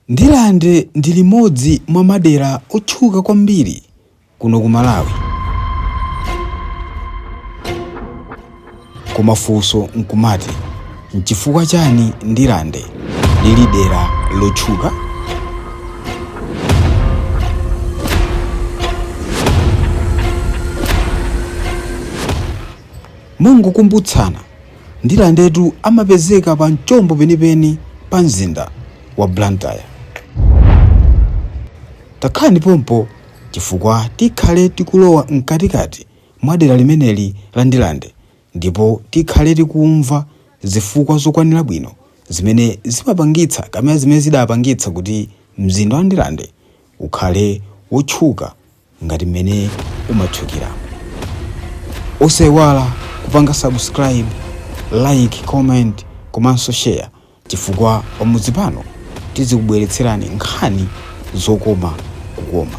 Ndirande ndi limodzi mwa madera otchuka kwambiri kuno ku Malawi. Koma funso nkumati, nchifukwa chani Ndirande lili dera lotchuka? Mongokumbutsana, Ndilandetu amapezeka pa mchombo penipeni pa mzinda wa Blantyre. Takhalani pompo chifukwa tikhale tikulowa mkatikati mwa dera limeneli la Ndilande ndipo tikhale tikumva zifukwa zokwanira bwino zimene zimapangitsa kapena zimene zidapangitsa kuti mzinda wa Ndilande ukhale wotchuka ngati mmene umatchukira osaiwala kupanga subscribe like comment komanso share chifukwa pamudzi pano tizikubweretserani nkhani zokoma kukoma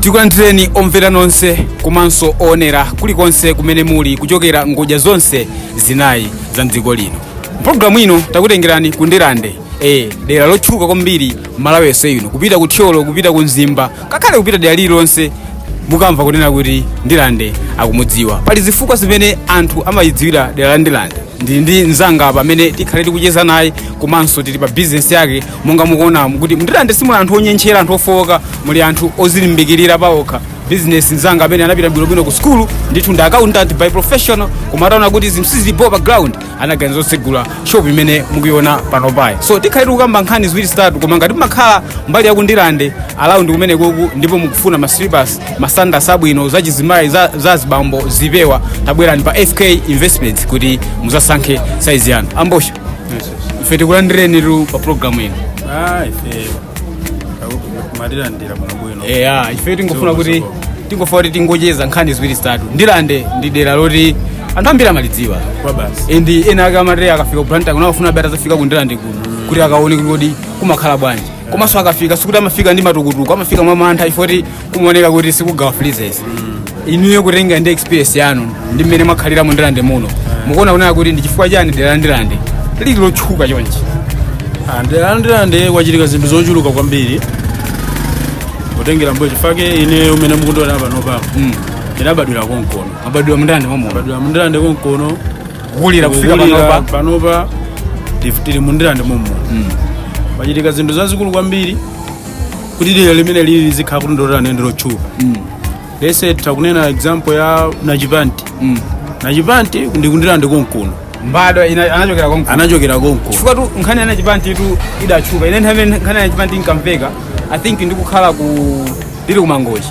tikulandireni omvera nonse komanso oonera kulikonse kumene muli kuchokera ngodya zonse zinayi za mdziko lino mpulogalamu ino takutengerani ku ndirande e dera lotchuka kwambiri malawi yonse ino kupita ku thyolo kupita ku mzimba ngakhale kupita dera lililonse mukamva kunena kuti ndirande akumudziwa pali zifukwa zimene anthu amayidziwira dera la ndirande ndili ndi mzanga apa amene tikhale tikucheza naye komanso tili pa bizinesi yake monga mukuona kuti mndirande simuli anthu onyentchera anthu ofowoka muli anthu ozilimbikirira paokha bizinesi mzanga amene anapita bwinobwino ku skulu ndithu ndi accountant by profession koma ataona kuti zinthu sizibho pa ground anaganiza zotsegula shop imene mukuiona panopayi so tikhale tikukamba nkhani ziwiri zitatu koma ngati mumakhala mbali ya kundirande around kumenekoku ndipo mukufuna ma slippers masandasi abwino za chizimayi za, za zibambo zipewa tabwerani pa fk investments kuti muzasankhe saizi yanu ambosha ife tikulandirenitu pa programu ino Ah, ife mwatilandira kuno bwino eya ife tingofuna kuti tingofuna kuti tingocheza nkhani ziwiri zitatu ndilande ndi dera loti anthu ambiri amalidziwa kwa basi and ena ake amati akafika ku Blantyre kunakafuna atazafika ku ndilande kuno kuti akaone kuti kodi kumakhala bwanji komanso akafika sikuti amafika ndi matukutuku amafika mwa mantha ifoti kumaoneka kuti sikugawa freezes inuyo kutengera ndi experience yanu ndi mmene mwakhalira mu ndilande muno mukuona kunena kuti ndi chifukwa chani dera la ndilande lili lotchuka chonchi Ah, dera la ndilande kwachitika zinthu zochuluka kwambiri kutengera mbuyo chifukwa ine mmene mukundiona pano pano Mm. ndinabadwira konkono munabadwira mndilande momwemuno badwira mndilande konkono kulira kufika Kulira panopa panopa tif- tili mu Ndirande momuno pachitika zinthu zazikulu kwambiri kuti dera limenelili lizikhala kuti ndilotani ndi lotchuka let's say takunena example ya nachipanti nachipanti ndi ku Ndirande konkuno mbadwa ina- anachokera konko anachokera konkuno chifukwa tu nkhani ya nachipanti tu idatchuka ine nthawi imene nkhani ya nachipanti inkamveka i think ndikukhala ku ndiri kumangochi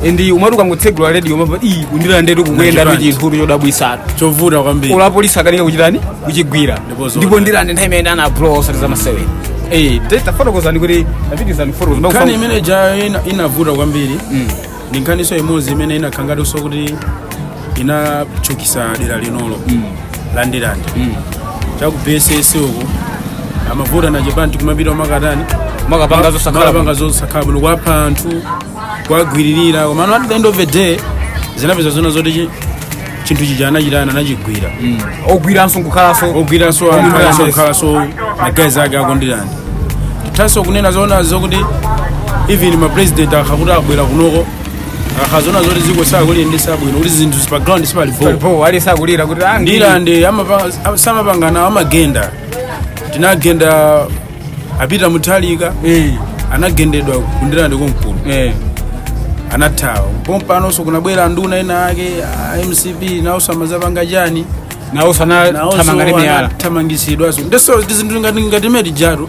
and umati ukangotsegula radio umava ii ku Ndirandetu kukuyenda Nachipanti. chinthutu chodabwisatu chovuta kwambiri olo apolisi akanika kuchitani kuchigwira Ndipo zona. ndipo Ndirande nthawi imene ana blow osati zamasewera Eh, te- tafotokozani kuti tapitizani fotokoza nkhani imenejayo ina- inavuta kwambiri ndi nkhaniso imodzi imene inakhangatinso kuti inatchukisa dera linolo la ndirande chaku vss uko amavuta nachipanti kumapita makatani Makapanga zosakhala makapanga zosakhala bwino kwapha anthu kwagwiririra komano at the end of the day zinapeza zona zoti chi- chinthu chija anachitani anachigwira ogwiranso nkukhalanso ogwiranso Ogwira anthu yes. kukhalanso magazi ake aku Ndirande tithanso kunena zoona zokuti even mapresident akhakuti abwera kunoko akazona zoti ziko sakuliyendesa bwino kuti zinthu pa ground sipali bho palipo alisakulira kuti ah, ndi- Ndirande amapa- samapangana amagenda tinagenda a Peter Mutharika Eh, anagendedwa ku Ndirande konkuno eh. anathawa pompanonso kunabwera nduna inaake a mcp nawonso amazapanga chani nawonso ana- nawonso thamanga ndi miyala anathamangisidwanso ndeso zinthu ngati ngati meti jato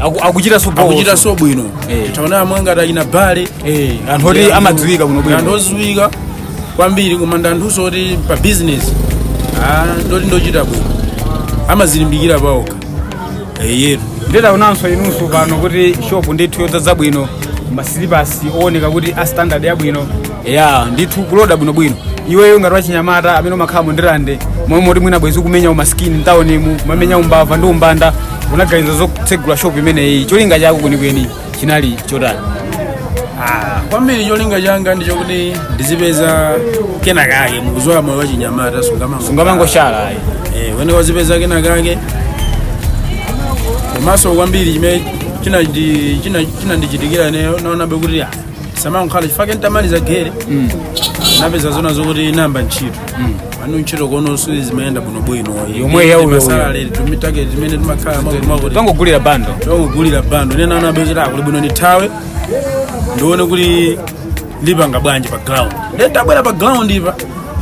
Aku- akuchitaso bho. akuchitaso bwino Eh. titaona amwe ngati achina bale Eh, anthu oti amadziwika bwino anthu bwino odziwika kwambiri koma ndi anthuso oti pa bizinesi ndoti ndochita bwino amazilimbikira paokha eyetu nditaonanso inunso pano kuti shop ndithu yodzadza bwino masilipasi owoneka kuti a standard yabwino ya ndithu kuloda bwinobwino iweyo ngati wachinyamata amene umakhala mu ndirande momwe moti mwina bwezi kumenya umasikini mtawonimu kumamenya umbava ndi umbanda unaganiza zotsegula shopu imeneyi cholinga chako kwenikweni chinali chotani Ah, kwambiri cholinga changa ndicho kuti ndizipeza kena kake mukuziwa moyo wachinyamata sungamango sungamangoshala ayi Eh, wene wazipeza kena kake komanso kwambiri chimene china ndi- china- chinandichitikira ineyo naonabe kuti ah, samangokhala chifake ntamaliza geri napeza zona zokuti namba ntchito pano ntchito komano sizimayenda bwinobwino Yomwe ya uyo- masalale tumitake timene timakhala mwakuti mwakuti tangogulira bundle tongogulira bundle nde naonabe kuti ah kuli bwino ndithawe ndione kuti ndipanga bwanji pa ground nde tabwera pa groundipa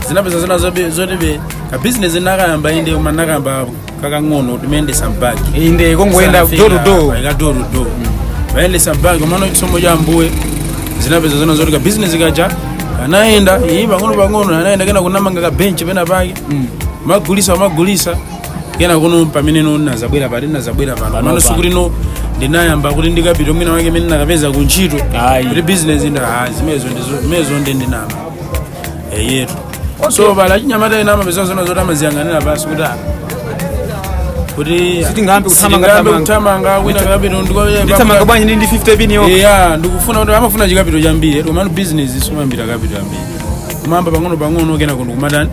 zinapeza zina zobe- zoti be ka business nakayamba inde koma nakayamba kakang'ono timayendesa mbaki inde kongoyenda door to door ikadorudo kuyendesa mbaki komano chisomo cha ambuye zinapeza zona zoti kabizinesi kaja kanayenda iyi pang'ono pang'ono kanayenda kenako ndinamanga kabenchi pena pake ndimagulisa ndimagulisa kenako no pamene no nazabwera pati nazabwera pano amano Panopa. sikuti no ndinayamba kuti ndikapita mwina wake mene nakapeza kuntchito Ayi. kuti bizinesi nda zimezo ndizo- zimezo ndi ndinama eyetu so pali achinyamata ena amapeza zona zoti amaziyang'anira pansi kuti ah, kuti Sitingambe kuthamanga- sitingambe thamanga. kuthamanga mwina kapito ndithamanga bwanji ndi ndi 50 pin yo eya ndikufuna kuti amafuna chikapito chambiri komano bizinesi sumayambira kapito yambiri kumayamba pang'ono pang'ono kenako nkumatani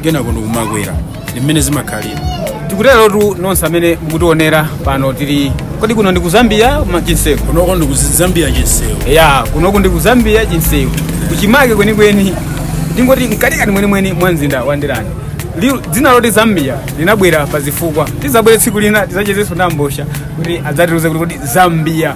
kenako ndikumakwera ndi mmene zimakhalira tikuterotu nonse amene mukutionera pano tili kodi kuno ndi ku zambia ya chinsewu kunoko ndi ku zambia chinsewu ya kunoko ndi ku zambia chinsewu kuchimake kwenikweni ndingoti mkatikati mwenimweni mwa mzinda wa ndirande Liu- dzina loti zambia linabwera pazifukwa tizabwere tsiku lina tizachezenso ndi abwana kuti adzatiuze kuti kodi zambia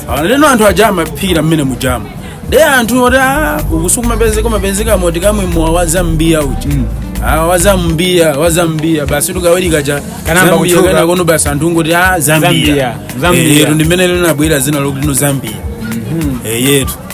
Ah, ndiye no anthu aja amaphikira mmene mujama de anthu oti "Ah, uku sikumapezeka umapezeka moti kamwe mowa wazambiya uja Ah, wazambiya wazambiya basi tikaweruka chinayamba Zambia, kuchuka. kenako no basi anthu ngoti a Zambia. zambiya Zambia. Eh, yetu ndimene linabwera dzina lokuti no zambia Eh, yetu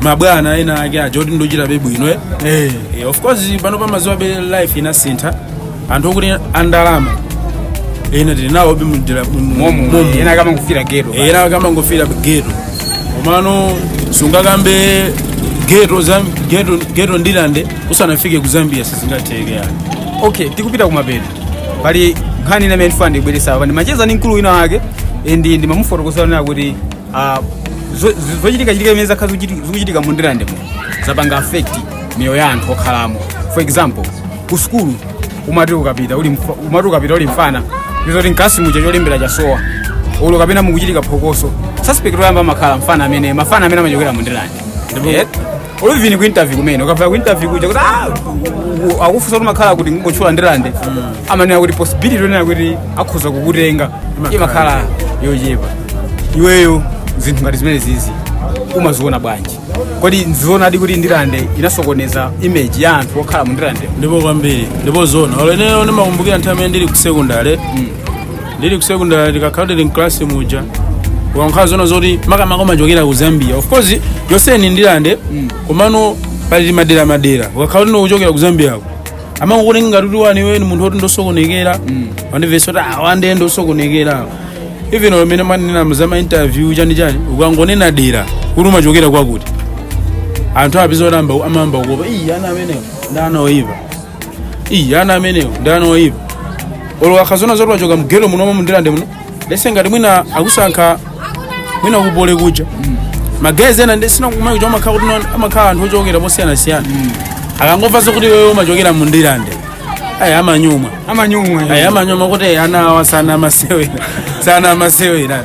mabwana ena ake aja oti ndochita be bwino eh. Eh, Eh, of course pano mumaziwa be life inasintha anthu okuti andalama ena tili nawo be mudera muno ena akamakufira geto ena akamangofira geto komano sungakambe geto zam- geto geto ndilande usanafike ku zambia sizingatheke yani okay tikupita kumapeto pali nkhani ina imene ndimafuna ndiibwerese apa ndimacheza ndi mkulu wina wake ndiye ndimamufotokozera kuti Ah, zo- zo- zochitikachitika imene zakhala zikuchiti- zikuchitika mu ndirande muno zapanga affect miyoyo ya anthu okhalamo for example ku sukulu umati ukapita uli mfa- umati ukapita uli mfana ndizoti mkalasi muja cholembera chasowa olo kapena mukuchitika phokoso suspect oyamba amakhala mfana amene mafana amene amachokera mu ndirande Ndipo- Eh, or even ku interview kumene ukafika ku interview kuja kuti ah, u- u- akufunsa kuti mumakhala kuti ungotchula ndirande amanena kuti possibility yonena kuti akhoza kukutenga imakhala yochepa iweyo zinthu ngati zimenezizi umaziona bwanji kodi nzionadi kuti ndirande inasokoneza image ya anthu okhala mu ndirande ndipo kwambiri ndipo zona olo ineyo ndimakumbukira nthawi imene ndili ku sekondale ndili ku secondary ukakhala kuti mklasi muja zimakhala zona zoti makamaka umachokera ku zambia of course yonse ndi ndilande komano pali madera madera ukakhala kuti ukuchokera ku zambiako amangokutenga ngati kuti iweyo ndi munthu oti ndosokonekera wandimvetsa kuti awande ndosokonekera even pamene mumanena za mainterview chani chani ukangonena dera kuti umachokera kwakuti anthu upeza kuti amba- amayamba kukuopa iyi ana amenewo ndi ana oyipa iyi ana amenewo ndi ana oyipa olo akhazona zoti wachoka mgeto muno mwa mu ndirande muno lese ngati mwina akusankha mwina ku poly kuja magezi ena ndi sina kumai kuja amakhala kuti no- amakhala anthu ochokera posiyanasiyana akangomva zokuti wewe umachokera mu ndirande ayi amanyumwa amanyumwa ayi amanyumwa kuti ana awa si ana amasewera si ana amasewera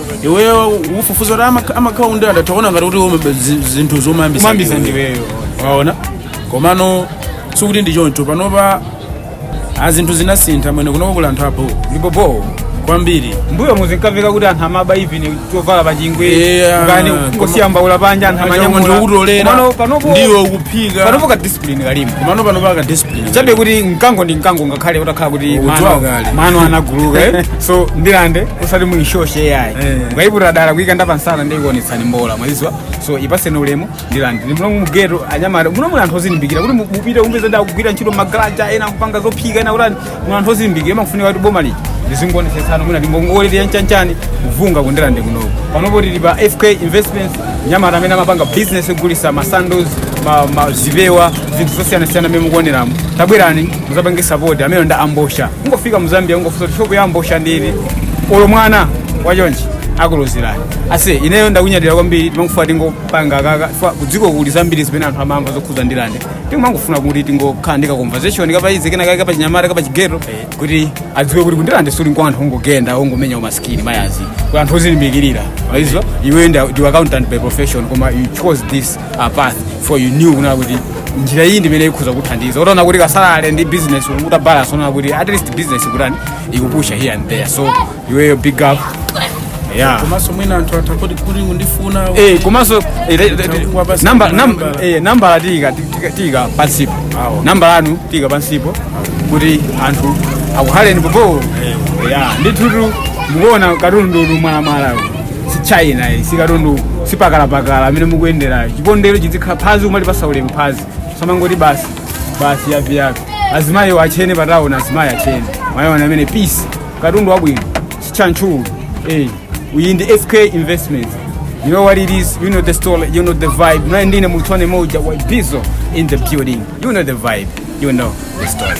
iweyo ukufufuza kuti amak- amakhala ku ndirande atoona ngati kuti ume- zi- zinthu zomayambisa Zomayambisa ndiweyo. waona komano sikuti ndi choncho panopa a zinthu zinasintha mwene kunoko kuli anthu abho ndipo bho kwambiri mbuyomu zinkamveka kuti anthu amaba even chovala pachingwe Yeah, kani koma- ungosiya mbaula panja anthu munthu amanyamula ukutolera Komano panopo ndiwo ukuphika panopo ka discipline kalimo komano panopa ka discipline chabe kuti mkango ndi mkango ngakhale utakhala kuti Udziwa mano- kale. mano anaguluka eh? so ndirande usati muishoshe ayi Eh. mukayiputira dala kuyikanda pamsana ndiye ikuonetsani mbola mwaziwa so ipaseni ulemu ndirande ndi muno mugeto anyamata muno muli anthu ozilimbikira kuti mu- mupite upeza ena akugwira ntchito magaraja ena kupanga zophika ena kutani muno anthu ozilimbikira imakufunika kuti boma lija lizingonetsetsana mwina ndi ngongole ya nchanchani kuvunga ku ndirande kunoku panopo tili pa fk investments nyamata amene amapanga business yogulisa masandals ma- ma- zipewa zinthu zosiyanasiyana mmene mukuoneramu tabwerani muzapange sapoti amene ndi a mbosha kungofika mu zambia kungofusa kuti shopu ya mbosha ndi iti olo mwana wachonchi akulozerani aise ineyo ndakunyadira kwambiri timangofuna tingopanga kaka fa kudziko kuli zambiri zimene anthu amamva zokhuza ndirande timangofuna kuti tingokhala ndi ka conversation kapaize kena kake kapachinyamata kapachigeto kuti adziwe kuti ku ndirande sikuli kwa anthu ongogenda ongomenya umasikini mayazi kwa anthu ozilimbikirira waziwa iwe ndiwe accountant by profession koma you chose this a path for you knew kunena kuti njira iyi ndimene ikhoza kuthandiza utaona kuti ka salary ndi business ukuta balance unaona kuti at least business ikutani ikupusha here and there so iweyo big up yeah komanso mwina anthu atha kuti kuti ndifuna Eh, komanso eh, eh, eh, Chakungwa basi namba- kuna nam- nambala. eh, nambala tiika tiika- tiika pansipo Awo. nambala yanu tiika pansipo kuti anthu akuhaleni pompo ya ndithutu mukuona katunduyutu mwalamwala si china iyi sikatundu sipakalapakala amene mukuyenderayo chipondero chizikhala phazi umalipatsa ulemu phazi samangoti basi basi yapi yapi azimayi atchene pataona azimayi atchene mwayiona amene peace katundu wabwino sichanchulu eh we in the fk investments you know what it is you know the story you know the vibe naye ndine mutone moja wa bizo in the building you know the vibe you know the story